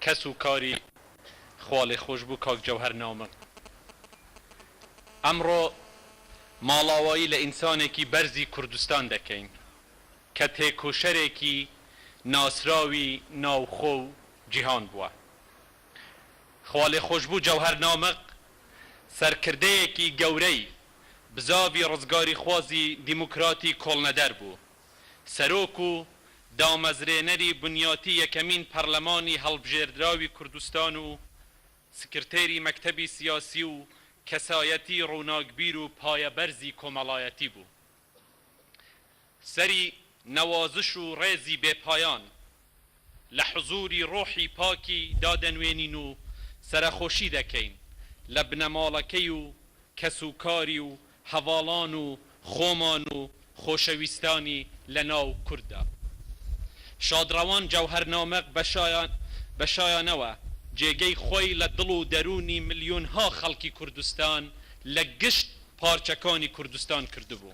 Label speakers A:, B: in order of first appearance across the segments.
A: کەس و کاری خوالێخۆشبوو کاک جەوهەر ناومم ئەمڕۆ ماڵاوایی لە ئینسانێکی بەرزی کوردستان دەکەین کە تێکۆشەرێکی ناسراوی ناوخۆ و جیهان بووە خوالێخۆشبوو جەوهەر نامق سەرکردەیەکی گەورەی بزاڤی ڕزگاریخوازی دیموکراتی کۆڵنەدەر بوو. سەرۆک و دامەزرێنەری بنیاتی یەکەمین پەرلەمانی هەڵبژێردراوی کوردستان و سکرتێری مەکتەبی سیاسی و کەسایەتی ڕووناکبیر و پایەبەرزی کۆمەڵایەتی بوو سەری نەوازش و ڕێزی بێ پایان لە حزووری ڕۆحی پاکی دا دەنوێنین و سەرەخۆشی دەکەین لە بنەماڵەکەی و کەسوکاری و هەڤاڵان و خۆمان و خۆشەویستانی لە ناو کورد دا. شادڕەوان جەوهەر نامق بە شایانەوە جێگەی خۆی لە دڵ و دەروونی ملیۆنها خەڵکی کوردستان لە گشت پارچەکانی کوردستان کردبوو.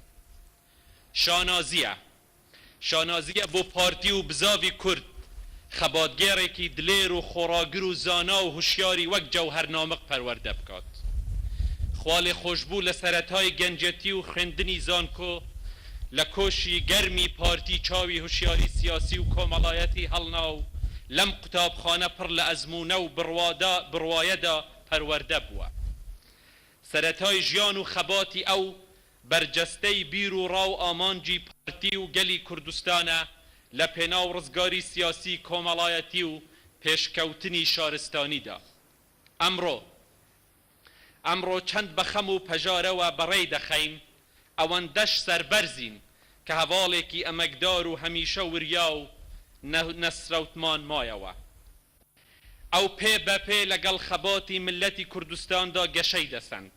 A: شانازییە شانازییە بۆ پارتی و بزاڤی کورد، خەباتگێڕێکی دلێر و خۆڕاگر و زانا و هوشیاری وەک جەوهەر نامق پەروەردە بکات. خوا لێ خۆشبوو لە سەرەتای گەنجێتی و خوێندنی زانکۆ لە کۆشی گەرمی پارتی چاوی هوشیاری سیاسی و کۆمەڵایەتی هەڵنا و لەم قوتابخانە پڕ لە ئەزموونە و بڕوادا بڕوایەدا پەروەردە بووە. سەرەتای ژیان و خەباتی ئەو بەرجەستەی بیروڕا و ئامانجی پارتی و گەلی کوردستانە لە پێناو ڕزگاری سیاسی کۆمەڵایەتی و پێشکەوتنی شارستانیدا. ئەمڕۆ ئەمڕۆ چەند بە خەم و پەژارەوە بەڕێی دەخەین، ئەوەندەش سەربەرزین کە هەڤاڵێکی ئەمەکدار و هەمیشە وریا و نەسرەوتمان مایەوە. ئەو پێ بە پێ لەگەڵ خەباتی میللەتی کوردستاندا گەشەی دەسەند.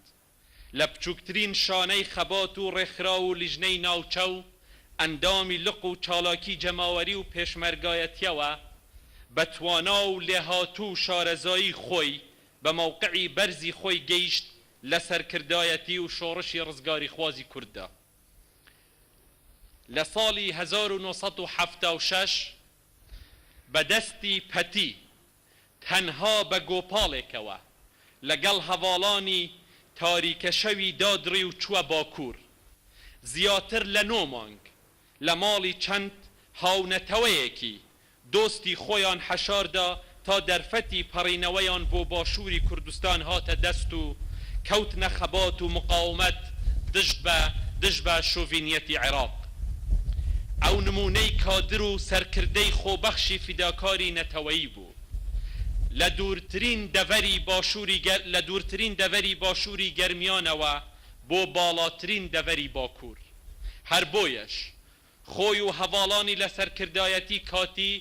A: لە بچووکترین شانەی خەبات و ڕێکخراو و لیژنەی ناوچە و ئەندامی لق و چالاکی جەماوەری و پێشمەرگایەتیەوە بە توانا و لێهاتوو و شارەزایی خۆی بە مەوقعی بەرزی خۆی گەیشت لە سەرکردایەتی و شۆڕشی ڕزگاریخوازی کورددا لە ساڵی هەزار و نۆ سەد و حەفتا و شەش بە دەستی پەتی تەنها بە گۆپاڵێکەوە لەگەڵ هەڤاڵانی تاریکەشەوی دادڕی و چووە باکوور. زیاتر لە نۆ مانگ لە ماڵی چەند هاونەتەوەیەکی دۆستی خۆیان حەشاردا تا دەرفەتی پەڕینەوەیان بۆ باشووری کوردستان هاتە دەست و کەوتنە خەبات و مقاومەت، دژ بە دژ بە شۆڤینیەتی عێراق. ئەو نموونەی کادر و سەرکردەی خۆبەخشی فیداکاری نەتەوەیی بوو. لە دوورترین دەڤەری باشووری گەر لە دوورترین دەڤەری باشووری گەرمیانەوە بۆ باڵاترین دەڤەری باکوور. هەر بۆیەش خۆی و هەڤاڵانی لە سەرکردایەتی کاتی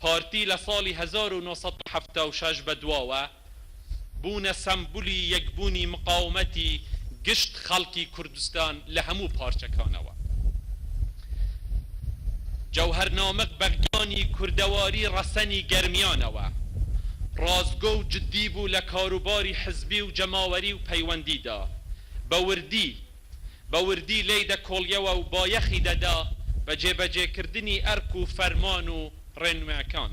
A: پارتی لە ساڵی هەزار و نۆ سەد و حەفتا و شەش بەدواوە بوونە سەمبولی یەکبوونی مقاومەتی گشت خەڵکی کوردستان لە هەموو پارچەکانەوە. جەوهەر نامق بە گیانی کوردەواری ڕەسەنی گەرمیانەوە ڕاستگۆ و جدی بوو لە کاروباری حزبی و جەماوەری و پەیوەندیدا بە وردی، بە وردی لێی دەکۆڵیەوە و بایەخی دەدا بە جێبەجێکردنی ئەرک و فەرمان و ڕێنماکان.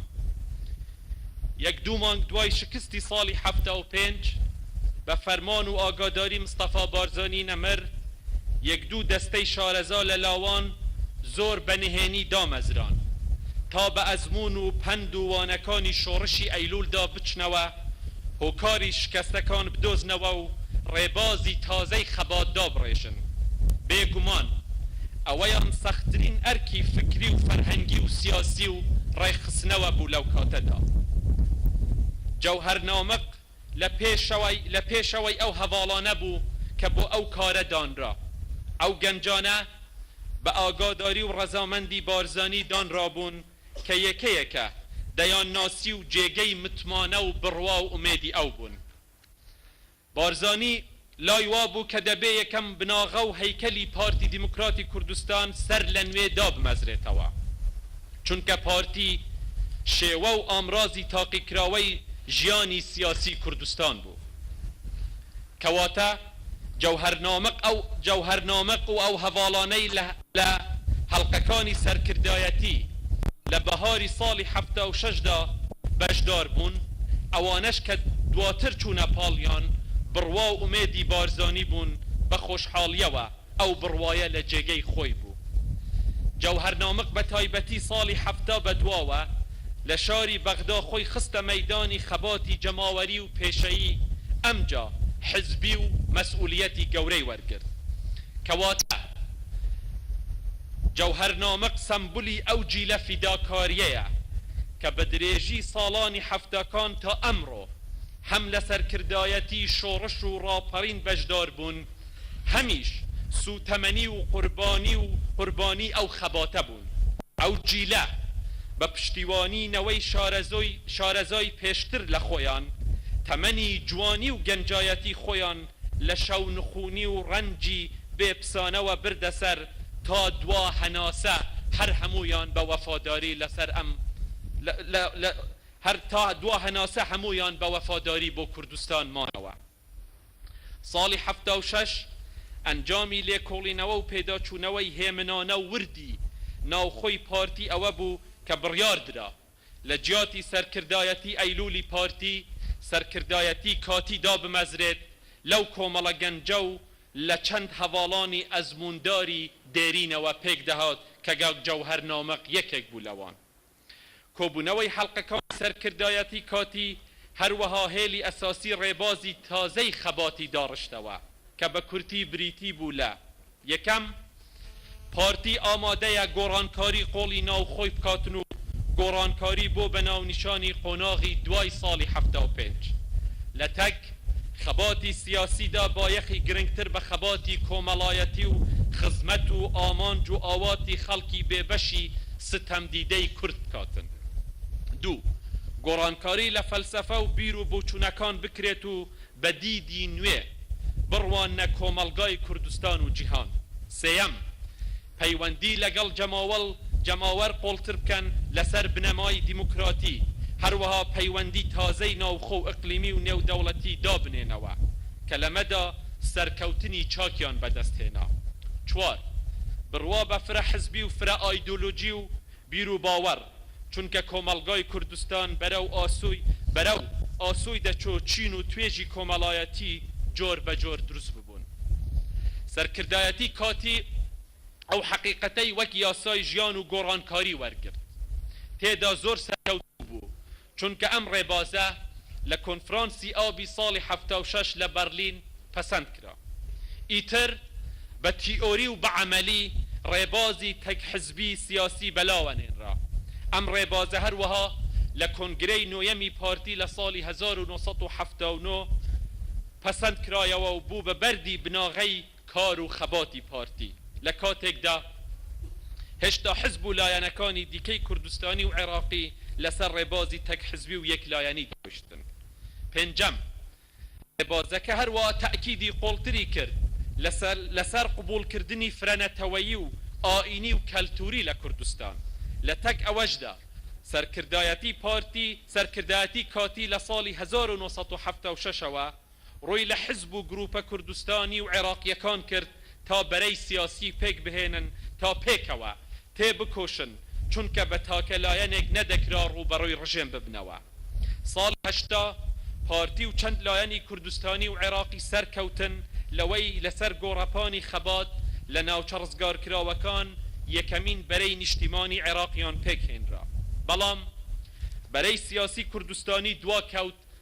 A: یەک دوو مانگ دوای شکستی ساڵی حەفتا و پێنج، بە فەرمان و ئاگاداری مستەفا بارزانی نەمر، یەک دوو دەستەی شارەزا لە لاوان زۆر بە نهێنی دامەزران، تا بە ئەزموون و پەند و وانەکانی شۆڕشی ئەیلوولدا بچنەوە هۆکاری شکەستەکان بدۆزنەوە و ڕێبازی تازەی خەبات دابڕێژن. بێ گومان ئەوەیان سەختترین ئەرکی فکری و فەرهەنگی و سیاسی و ڕێکخستنەوە بوو لەو کاتەدا. جەوهەر نامق لە لە پێشەوەی ئەو هەڤاڵانە بوو کە بۆ ئەو کارە دانرا. ئەو گەنجانە بە ئاگاداری و ڕەزامەندی بارزانی دانرابوون کە یەکەیەکە دەیانناسی و جێگەی متمانە و بڕوا و ئومێدی ئەو بوون. بارزانی لای وا بوو کە دەبێ یەکەم بناغە و هەیکەلی پارتی دیموکراتی کوردستان سەر لە نوێ دابمەزرێتەوە، چونکە پارتی شێوە و ئامرازی تاقیکراوەی ژیانی سیاسی کوردستان بوو. کەواتە. جەوهەرنامق ئەو جەوهەرنامق و ئەو هەڤاڵانەی لە لە هەڵقەکانی سەرکردایەتی لە بەهاری ساڵی حەفتا و شەش دا بەشدار بوون، ئەوانەش کە دواتر چوونە پاڵیان، بڕوا و ئومێدی بارزانی بوون بە خۆشحاڵییەوە. ئەو بڕوایە لە جێگەی خۆی بوو. جەوهەر نامق بە تایبەتی ساڵی حەفتا بە دواوە لە شاری بەغدا خۆی خستە مەیدانی خەباتی جەماوەری و پێشەیی ئەمجا حزبی و مەسئولیەتی گەورەی وەرگرت. کەواتە جەوهەر نامق سەمبولی ئەو جیلە فیداکاریەیە کە بە درێژی ساڵانی حەفتاکان تا ئەمڕۆ هەم لە سەرکردایەتی شۆڕش و ڕاپەڕین بەشدار بوون، هەمیش سووتەمەنی و قوربانی و قوربانی ئەو خەباتە بوون. ئەو جیلە بە پشتیوانی نەوەی شارەزۆی شارەزای پێشتر لە خۆیان، تەمەنی جوانی و گەنجایەتی خۆیان لە شەونخوونی و ڕەنجی بێ پسانەوە بردە سەر تا دوا هەناسە هەر هەموویان بە وەفاداری لە سەر ئەم لە لە هەر تا دوا هەناسە هەموویان بە وەفاداری بۆ کوردستان مانەوە. ساڵی حەفتا و شەش ئەنجامی لێکۆڵینەوە و پێداچوونەوەی هێمنانە و وردی ناوخۆی پارتی ئەوە بوو کە بڕیار درا لە جیاتی سەرکردایەتی ئەیلوولی پارتی، سەرکردایەتی کاتی دابمەزرێت لەو کۆمەڵە گەنجە و لە چەند هەڤاڵانی ئەزموونداری دێرینەوە پێک دەهات کە کاک جەوهەر نامق یەکێک بوو لەوان. کۆبوونەوەی حەڵقەکانی سەرکردایەتی کاتی هەروەها هێلی ئەساسی ڕێبازی تازەی خەباتی داڕشتەوە کە بە کورتی بریتی بوو لە، یەکەم، پارتی ئامادەیە گۆڕانکاری قوڵی ناوخۆی بکاتن و گۆڕانکاری بۆ بە ناونیشانی قۆناغی دوای ساڵی حەفتا و پێنج لە تەک خەباتی سیاسیدا بایەخی گرنگتر بە خەباتی کۆمەڵایەتی و خزمەت و ئامانج و ئاواتی خەڵکی بێبەشی ستەمدیدەی کورد بکاتن. دوو. گۆڕانکاری لە فەلسەفە و بیر و بۆچوونەکان بکرێت و بە دیدی نوێ بڕواننە کۆمەڵگای کوردستان و جیهان. سێیەم. پەیوەندی لەگەڵ جەماوەڵ جەماوەر قوڵتر بکەن لەسەر بنەمای دیموکراتی، هەروەها پەیوەندی تازەی ناوخۆ و ئیقلیمی و نێودەوڵەتی دابنێنەوە، کە لەمەدا سەرکەوتنی چاکیان بەدەستهێنا. چوار. بڕوا بە فرە حزبی و فرە ئایدۆلۆژی و بیروباوەڕ، چونکە کۆمەڵگای کوردستان بەرەو ئاسۆی بەرەو ئاسۆی دەچۆ چین و توێژی کۆمەڵایەتی جۆر بە جۆر دروست ببوون. سەرکردایەتی کاتی ئەو حەقیقەتەی وەک یاسای ژیان و گۆڕانکاری وەرگرت. تێدا زۆر سەرکەوتوو بوو. چونکە ئەم ڕێبازە لە کۆنفرانسی ئابی ساڵی حەفتا و شەش لە بەرلین پەسەند کرا. ئیتر بە تیئۆری و بە عەمەلی ڕێبازی تەک حزبی سیاسی بەلاوە نێنرا. ئەم ڕێبازە هەروەها لە کۆنگرەی نۆیەمی پارتی لە ساڵی هەزار و نۆ سەد و حەفتا و نۆ پەسەند کرایەوە و بوو بە بەردی بناغەی کار و خەباتی پارتی لە کاتێکدا هێشتا حزب و لایەنەکانی دیکەی کوردستانی و عێراقی لەسەر ڕێبازی تەک حزبی و یەک لایەنی دانیشتن. پێنجەم، ڕێبازەکە هەروا تەئکیدی قوڵتری کرد لەسەر لەسەر قبوڵ کردنی فرە نەتەوەیی و ئایینی و کەلتوری لە کوردستان. لە تەک ئەوەشدا سەرکردایەتی پارتی سەرکردایەتی کاتی لە ساڵی هەزار و نۆ سەد و حەفتا و شەش ەوە ڕووی لە حزب و گروپە کوردستانی و عێراقییەکان کرد تا بەرەی سیاسی پێک بهێنن تا پێکەوە تێ بکۆشن، چونکە بە تاکە لایەنێک نەدەکرا ڕووبەڕووی ڕژێم ببنەوە. ساڵی هەشتا، پارتی و چەند لایەنی کوردستانی و عێراقی سەر کەوتن لەوەی لە سەر گۆڕەپانی خەبات لە ناوچە ڕزگارکراوەکان یەکەمین بەرەی نیشتیمانی عێراقیان پێک هێنرا، بەڵام بەرەی سیاسی کوردستانی دوا کەوت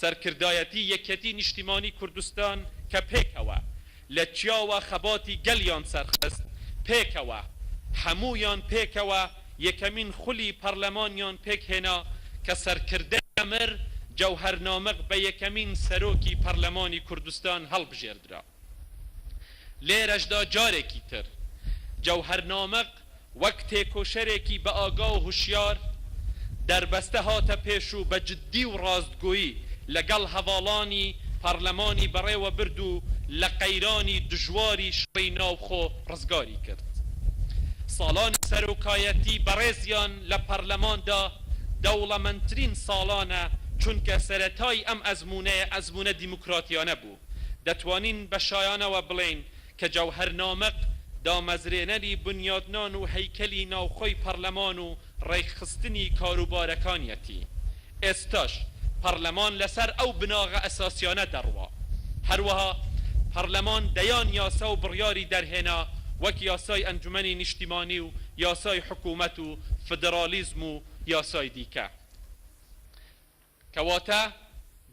A: سەرکردایەتی یەکێتی نیشتیمانی کوردستان کە پێکەوە لە چیاوە خەباتی گەلیان سەرخست، پێکەوە، هەموویان پێکەوە یەکەمین خولی پەڕلەمانیان پێکهێنا کە سەرکردە مر جەوهەر نامق بە یەکەمین سەرۆکی پەڕلەمانی کوردستان هەڵبژێردرا. لێرەشدا جارێکی تر جەوهەر نامق وەک تێکۆشەرێکی بەئاگا و هوشیار دەربەستە هاتە پێش و بە جددی و ڕاستگۆیی لەگەڵ هەڤاڵانی پارلەمانی بەڕێوە برد و لە قەیرانی دژواری شەڕی ناوخۆ ڕزگاری کرد. ساڵانی سەرۆکایەتی بەڕێزیان لە پارلەماندا دەوڵەمەندترین ساڵانە چونکە سەرەتای ئەم ئەزموونەیە ئەزموونە دیموکراتیانە بو. دەتوانین بە شایانەوە بڵێین کە جەوهەر نامق دامەزرێنەری بنیادنان و هەیکەلی ناوخۆی پەڕلەمان و ڕێکخستنی کاروبارەکانیەتی. ئێستاش پەڕلەمان لەسەر ئەو بناغە ئەساسیانە دەڕوا. هەروەها پەڕلەمان دەیان یاسا و بڕیاری دەرهێنا وەک یاسای ئەنجومەنی نیشتیمانی و یاسای حکومەت و فدرالیزم و یاسای دیکە. کەواتە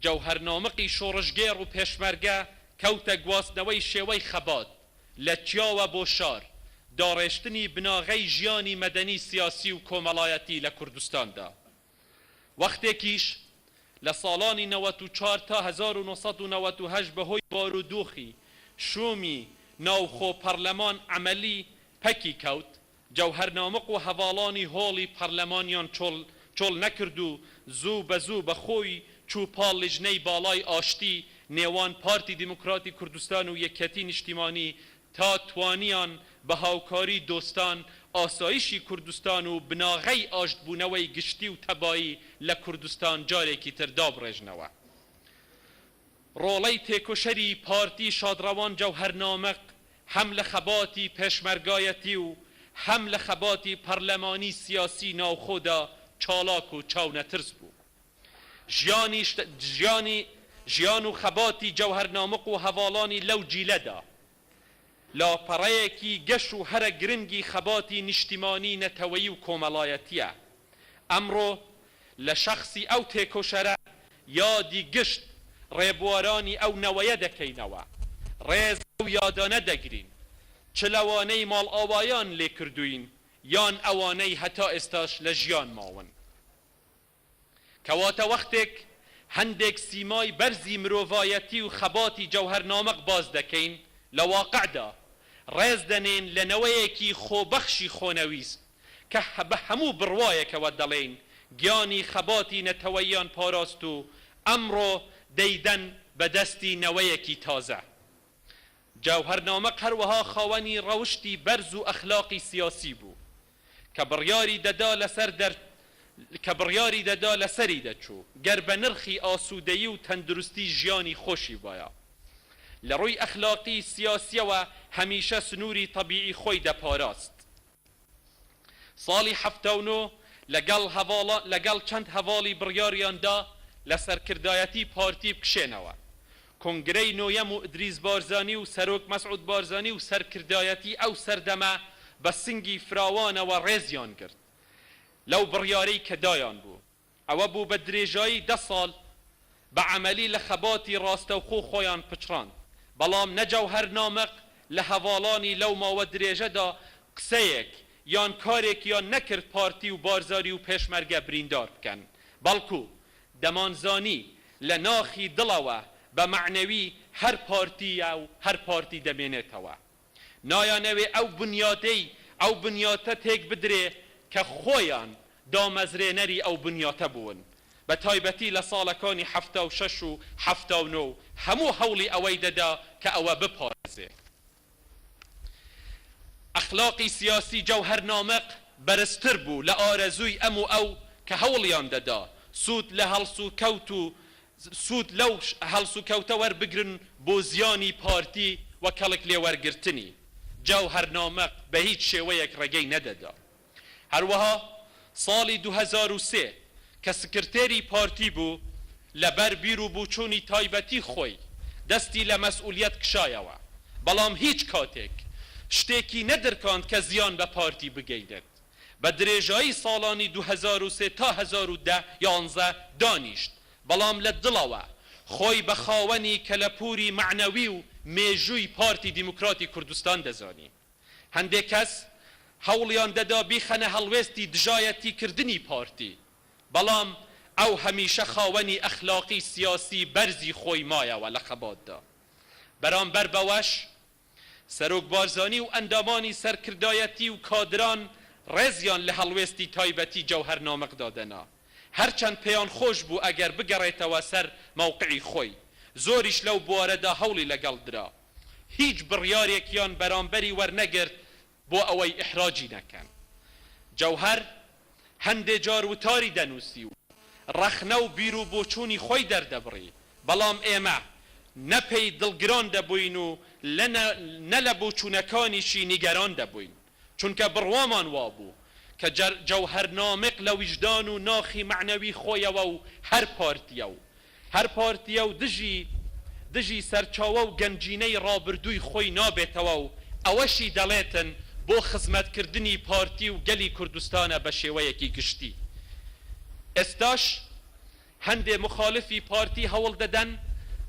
A: جەوهەرنامقی شۆڕشگێڕ و پێشمەرگە کەوتە گواستنەوەی شێوەی خەبات، لە چیاوە بۆ شار، داڕێشتنی بناغەی ژیانی مەدەنی سیاسی و کۆمەڵایەتی لە کوردستاندا. وەختێکیش لە ساڵانی نەوەت و چوار تا هەزار و نۆ سەد و نەوەت و هەشت بەهۆی بارودۆخی شوومی ناوخۆ پەڕلەمان عەمەلی پەکی کەوت، جەوهەر نامق و هەڤاڵانی هۆڵی پەرلەمانیان چۆڵ چۆڵ نەکرد و زوو بە زوو بە خۆی چوو پاڵ لیژنەی باڵای ئاشتی نێوان پارتی دیموکراتی کوردستان و یەکیەتی نیشتیمانی تا توانیان بە هاوکاری دۆستان ئاسایشی کوردستان و بناغەی ئاشتبوونەوەی گشتی و تەبایی لە کوردستان جارێکی تر دابڕێژنەوە. ڕۆڵەی تێکۆشەری پارتی شادڕەوان جەوهەر نامق هەم لە خەباتی پێشمەرگایەتی و هەم لە خەباتی پەڕلەمانی سیاسی ناوخۆدا چاڵاک و چاونەترس بوو. ژیانی ژیانی ژیان و خەباتی جەوهەر نامق و هەڤاڵانی لەو جیلەدا، لاپەڕەیەکی گەش و هەرە گرنگی خەباتی نیشتیمانی نەتەوەیی و کۆمەڵایەتییە. ئەمڕۆ لە شەخسی ئەو تێکۆشەرە یادی گشت ڕێبوارانی ئەو نەوەیە دەکەینەوە. ڕێز لەو یادانە دەگرین چ لەوانەی ماڵئاوایان لێکردووین یان ئەوانەی هەتا ئێستاش لە ژیان ماون. کەواتە وەختێک هەندێک سیمای بەرزی مرۆڤایەتی و خەباتی جەوهەر نامق باس دەکەین لە واقعدا، ڕێز دەنێین لە نەوەیەکی خۆبەخشی خۆنەویست کە بە هەموو بڕوایەکەوە دەڵێین گیانی خەباتی نەتەوەییان پاراست و ئەمڕۆ دەیدەن بە دەستی نەوەیەکی تازە. جەوهەر نامق هەروەها خاوەنی ڕەوشتی بەرز و ئەخلاقی سیاسی بوو کە بڕیاری دەدا لەسەر دەر کە بڕیاری دەدا لەسەری دەچوو گەر بە نرخی ئاسوودەیی و تەندروستی ژیانی خۆشی بایە لە ڕووی ئەخلاقی سیاسیەوە هەمیشە سنووری تەبیعی خۆی دەپاراست ساڵی حەفتا و نۆ لەگەڵ هەڤاڵا لەگەڵ چەند هەڤاڵی بڕیاریان دا لە سەرکردایەتی پارتی بکشێنەوە کۆنگرەی نۆیەم و ئیدریس بارزانی و سەرۆک مەسعود بارزانی و سەرکردایەتی ئەو سەردەمە بە سنگی فراوانەوە ڕێزیان گرت لەو بڕیارەی کە دایان بوو. ئەوە بوو بە درێژایی دە ساڵ بە عەمەلی لە خەباتی ڕاستەوخۆ خۆیان پچڕاند. بەڵام نە جەوهەر نامق لە هەڤاڵانی لەو ماوە درێژەدا قسەیەک یان کارێکیان نەکرد پارتی و بارزانی و پێشمەرگە بریندار بکەن، بەڵکوو دەمانزانی لە ناخی دڵەوە بە مەعنەوی هەر پارتییە و هەر پارتی دەمێنێتەوە. نایانەوێ ئەو بنیاتەی ئەو بنیاتە تێک بدرێ کە خۆیان دامەزرێنەری ئەو بنیاتە بوون. بە تایبەتی لە ساڵەکانی حەفتا و شەش و حەفتا و نۆ هەموو هەوڵی ئەوەی دەدا کە ئەوە بپارێزێ. ئەخلاقی سیاسی جەوهەر نامق بەرزتر بوو لە ئارەزووی ئەم و ئەو کە هەوڵیان دەدا سوود لە هەڵسوکەوت و سوود لەو هەڵسوکەوتە وەربگرن بۆ زیانی پارتی و کەڵک لێوەرگرتنی. جەوهەر نامق بە هیچ شێوەیەک ڕێگەی نەدەدا. هەروەها ساڵی دوو هەزار و سێ کە سکرتێری پارتی بوو، لەبەر بیر و بوچوونی تایبەتی خۆی دەستی لە مەسئولیەت کشایەوە، بەڵام هیچ کاتێک شتێکی نەدرکاند کە زیان بە پارتی بگەینێت، بە درێژایی ساڵانی دوو هەزار و سێ تا هەزار و دە یانزە دانیشت، بەڵام لە دڵەوە خۆی بە خاوەنی کەلەپووری مەعنەوی و مێژووی پارتی دیموکراتی کوردستان دەزانی. هەندێک کەس هەوڵیان دەدا بیخەنە هەڵوێستی دژایەتیکردنی پارتی، بەڵام ئەو هەمیشە خاوەنی ئەخلاقی سیاسی بەرزی خۆی مایەوە لە خەباتدا. بەرامبەر بەوەش، سەرۆک بارزانی و ئەندامانی سەرکردایەتی و کادران ڕێزیان لە هەڵوێستی تایبەتی جەوهەر نامق دادەنا، هەرچەند پێیان خۆش بوو ئەگەر بگەڕێتەوە سەر مەوقعی خۆی، زۆریش لەو بوارەدا هەوڵی لەگەڵ درا. هیچ بڕیارێکیان بەرامبەری وەرنەگرت بۆ ئەوەی ئیحراجی نەکەن. جەوهەر هەندێ جار وتاری دەنووسی و ڕەخنە و بیر و بۆچوونی خۆی دەردەبڕی، بەڵام ئێمە نە پێی دڵگران دەبووین و نە لە بۆچوونەکانیشی نیگەران دەبووین. چونکە بڕوامان وابوو کە جەوهەر نامق لە ویژدان و ناخی مەعنەوی خۆیەوە و هەر پارتیە و هەر پارتیە و دژی دژی سەرچاوە و گەنجینەی ڕابردووی خۆی نابێتەوە و ئەوەشی دەڵێتن بۆ خزمەتکردنی پارتی و گەلی کوردستانە بە شێوەیەکی گشتی ئێستاش هەندێ مخالفی پارتی هەوڵدەدەن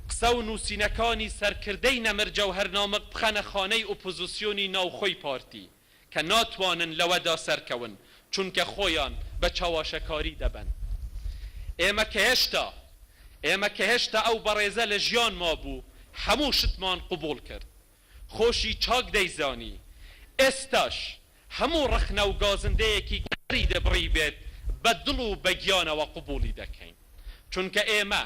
A: قسە و نووسینەکانی سەرکردەی نەمر جەوهەر نامق بخەنە خانەی ئۆپۆزیسیۆنی ناوخۆی پارتی کە ناتوانن لەوەدا سەرکەون چونکە خۆیان بە چەواشەکاری دەبەن ئێمە کە هێشتا ئێمە کە هێشتا ئەو بەڕێزە لە ژیان مابوو هەموو شتمان قبوڵ کرد خۆشی چاک دەیزانی ئێستاش هەموو ڕەخنە و گازندەیەکی کەری دەبڕی بێت بە دڵ و بە گیانەوە قبوڵی دەکەین، چونکە ئێمە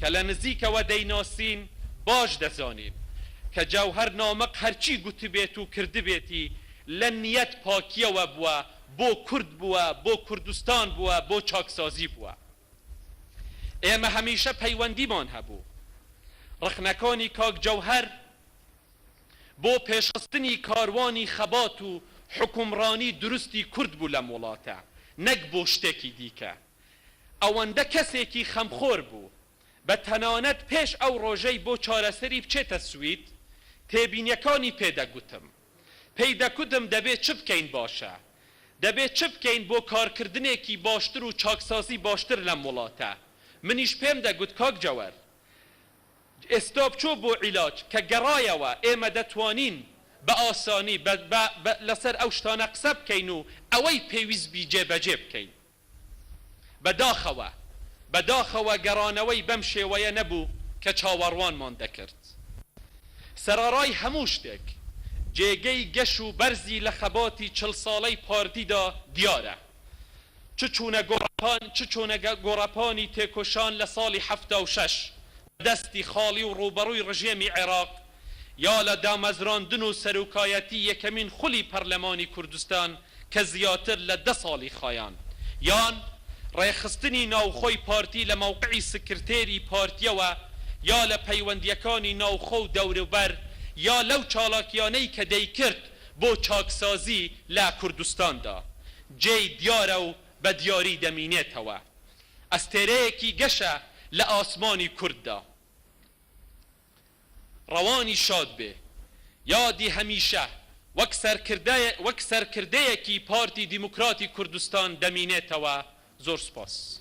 A: کە لە نزیکەوە دەیناسین باش دەزانین کە جەوهەر نامق هەرچی گوتبێت و کردبێتی لە نیەت پاکیەوە بووە، بۆ کورد بووە، بۆ کوردستان بووە، بۆ چاکسازی بووە. ئێمە هەمیشە پەیوەندیمان هەبوو. ڕەخنەکانی کاک جەوهەر. بۆ پێشخستنی کاروانی خەبات و حوکمڕانی دروستی کورد بوو لەم وڵاتە نەک بۆ شتێکی دیکە ئەوەندە کەسێکی خەمخۆر بوو بە تەنانەت پێش ئەو ڕۆژەی بۆ چارەسەری بچێتە سوید تێبینیەکانی پێ دەگوتم پێی دەکوتم دەبێ چ بکەین باشە دەبێ چ بکەین بۆ کارکردنێکی باشتر و چاکسازی باشتر لەم وڵاتە منیش پێم دەگوت کاک جەوەر ئێستا بچۆ بۆ عیلاج، کە گەڕایەوە ئێمە دەتوانین بە ئاسانی لەسەر ئەو شتانە قسە بکەین و ئەوەی پێویست بی جێبەجێ بکەین. بە داخەوە، بە داخەوە گەڕانەوەی بەم شێوەیە نەبوو کە چاوەڕوانمان دەکرد. سەرەڕای هەموو شتێک، جێگەی گەش و بەرزی لە خەباتی چل ساڵەی پارتیدا دیارە. چ چوونە گۆڕەپان چ چۆنە گۆڕەپانی تێکۆشان لە ساڵی حەفتا و شەش بە دەستی خاڵی و ڕووبەڕووی ڕژێمی عێراق یا لە دامەزراندن و سەرۆکایەتی یەکەمین خولی پەرلەمانی کوردستان کە زیاتر لە دە ساڵی خایاند یان ڕێکخستنی ناوخۆی پارتی لە مەوقعی سکرتێری پارتیەوە یا لە پەیوەندیەکانی ناوخۆ و دەوروبەر یا لەو چالاکیانەی کە دەیکرد بۆ چاکسازی لە کوردستاندا جێی دیارە و بە دیاری دەمینێتەوە. ئەستێرەیەکی گەشە لە ئاسمانی کورددا. ڕەوانی شاد بێ. یادی هەمیشە وەک سەرکردەیەکی پارتی دیموکراتی کوردستان دەمینێتەوە. زۆر سوپاس.